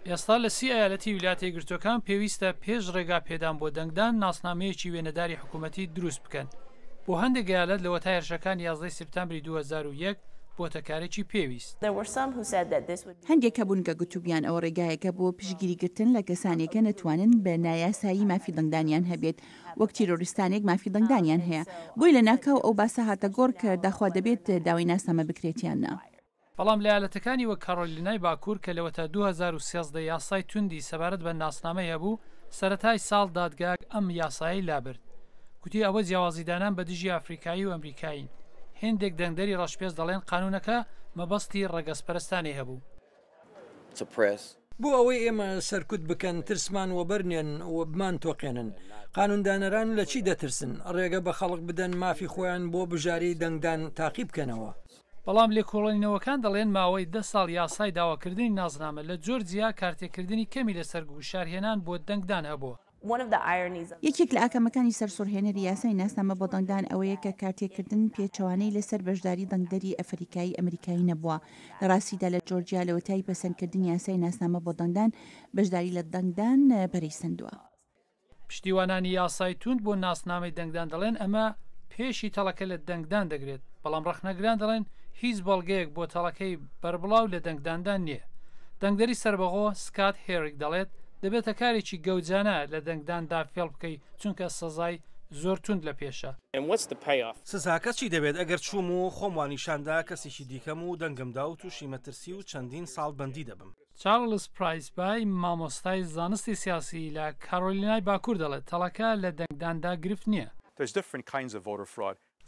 ئێستا لە سی ئەیالەتی ویلایەتە یەکگرتووەکان پێویستە پێش ڕێگا پێدان بۆ دەنگدان ناسنامەیەکی وێنەداری حکوومەتی دروست بکەن. بۆ هەندێک ئەیالەت لەوەتای هێرشەکانی یازدەی سپتامبری دوو هەزار و یەک بۆتە کارێکی پێویست. هەندێک هەبوون کە گوتبوویان ئەوە ڕێگایەکە بۆ پشتگیری گرتن لە کەسانێک کە نەتوانن بە نایاسایی مافی دەنگدانیان هەبێت وەک تیرۆریستانێک مافی دەنگدانیان هەیە. بۆیە لەناکاو ئەو باسە هاتە گۆڕ کە داخوا دەبێت داوای ناسنامە بکرێت یان نا. بەڵام لەیالەتەکانی وەک کارۆلینای باکور کە لەوەتا دوو هەزار و سێزدە یاسای توندی سەبارەت بە ناسنامەی هەبوو، سەرەتای ساڵ دادگاگ ئەم یاسایەی لابرد. گوتی ئەوە جیاوازیدانان بەدژی ئەفریکایی و ئەمریکایین. هێندێک دەنگدەری ڕەشپێست دەڵێن قانونەکە مەبەستی ڕەگەزپەرستانەی هەبوو. بۆ ئەوەی ئێمە سەرکوت بکەن، ترسمان وەبەرنێن و بمانتۆقێنن. قانوندانەران لەچی دەترسن؟ ڕێگە بەخەڵک بدەن مافی خۆیان بۆ بژاری دەنگدان تاقیبکەنەوە. بەڵام لێکۆڵێنەوەکان دەڵێن ماوەی دە ساڵ یاسای داواکردنی نازنامە لە جۆرجیا کارتێکردنی کەمی لەسەر گوشارهێنان بۆ دەنگدان هەبووە. یەکێک لە ئاکامەکانی سەرسوڕهێنەری یاسای ناسنامە بۆ دەنگدان ئەوەیە کە کارتێکردن پێچەوانەی لەسەر بەشداری دەنگدەری ئەفەریکایی ئەمریکایی نەبووە. لە ڕاستیدا لە جۆرجیا لەوەتای پەسەندکردنی یاسای ناسنامە بۆ دەنگدان، بەشداری لە دەنگدان پەرەی سەندووە. پشتیوانانی یاسای توند بۆ ناسنامەی دەنگدان دەڵێن ئەمە پێشی تەڵەکە لە دەنگدان دەگرێت، بەڵام ڕەخنەگران دەڵێن هیچ بەڵگەیەک بۆ تەڵەکەی بەربڵاو لە دەنگداندا نییە. دەنگدەری سەربەخۆ سکات هێریک دەڵێت دەبێتە کارێکی گەوجانە لە دەنگداندا فێڵ بکەیت چونکە سزای زۆر توند لە پێشە. سزاکە چی دەبێت ئەگەر چووم و خۆم وانیشاندا کەسێکی دیکەم و دەنگمدا و تووشی مەترسی و چەندین ساڵ بەندی دەبم؟ چارڵز پرایسبای، مامۆستای زانستی سیاسی لە کارۆلینای باکوور دەڵێت، تەڵەکە لە دەنگداندا گرفت نییە.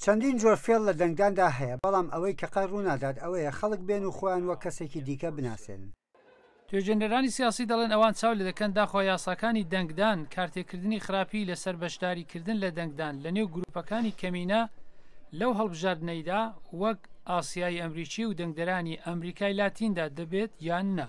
چەندین جۆر فێڵ لە دەنگداندا هەیە، بەڵام ئەوەی کە قەت ڕوونادات ئەوەیە خەڵک بێن و خۆیان وەک کەسێکی دیکە بناسێنن. توێژێنەرانی سیاسی دەڵێن ئەوان چاو لێدەکەن داخوا یاساکانی دەنگدان، کارتێکردنی خراپی لەسەر بەشداریکردن لە دەنگدان لەنێو گروپەکانی کەمینە لەو هەڵبژاردنەیدا وەک، ئاسیایی ئەمریکی و دەنگدەرانی ئەمریکای لاتیندا دەبێت یان نا.